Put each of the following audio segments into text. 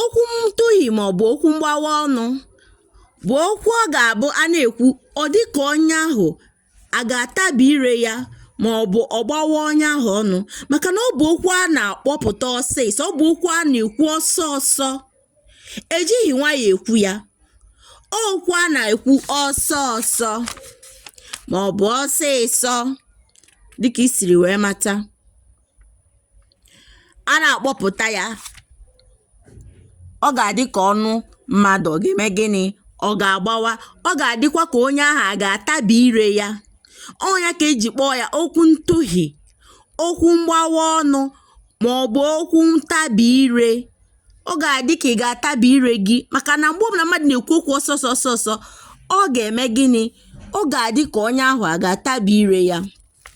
okwu ntụhi maọbụ okwu mgbawa ọnụ bụ okwu ọ ga-abụ a na-ekwu ọ dị ka onye ahụ a ga-atabi ire ya ma ọ bụ ọ gbawa onye ahụ ọnụ maka na ọ bụ okwu a na-akpọpụta ọsịsọ ọ bụ okwu a na-ekwu ọsọ ọsọ ejighị nwayọ ekwu ya okwu a na-ekwu ọsọ ọsọ ma ọ bụ ọsịsọ dịka i siri wee mata a na-akpọpụta ya ọ ga-adị ka ọnụ mmadụ ọ ga-eme gịnị ọ ga-agbawa ọ ga-adịkwa ka onye ahụ a ga-atabi ire ya ọ ya ka e ji kpọọ ya okwu ntụhi okwu mgbawa ọnụ ma ọ bụ okwu ntabi ire ọ ga-adị ka ị ga-atabi ire gị maka na mgbe ọbụla mmadụ na-ekwu okwu ọsọ ọsọ ọsọ ọ ga-eme gịnị ọ ga-adị ka onye ahụ a ga-atabi ire ya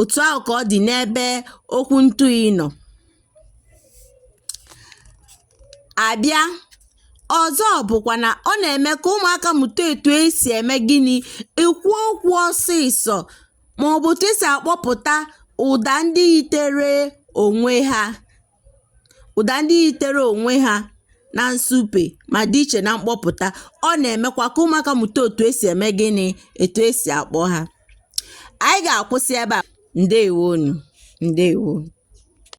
otu ahụ ka ọ dị n'ebe okwu ntụhi nọ abịa ọzọ bụkwa na ọ na-eme ka ụmụaka mụta etu esi eme gịnị ekwu okwu ọsịsọ ma ọ bụ otu esi akpọpụta ụda ndị yitere onwe ha Ụda ndị yitere onwe ha na nsupe ma dị iche na mkpọpụta, ọ na-emekwa ka ụmụaka mụta otu esi eme gịnị, etu esi akpọ ha. Anyị ga-akwụsị ebe a. Ndewonụ, ndewo.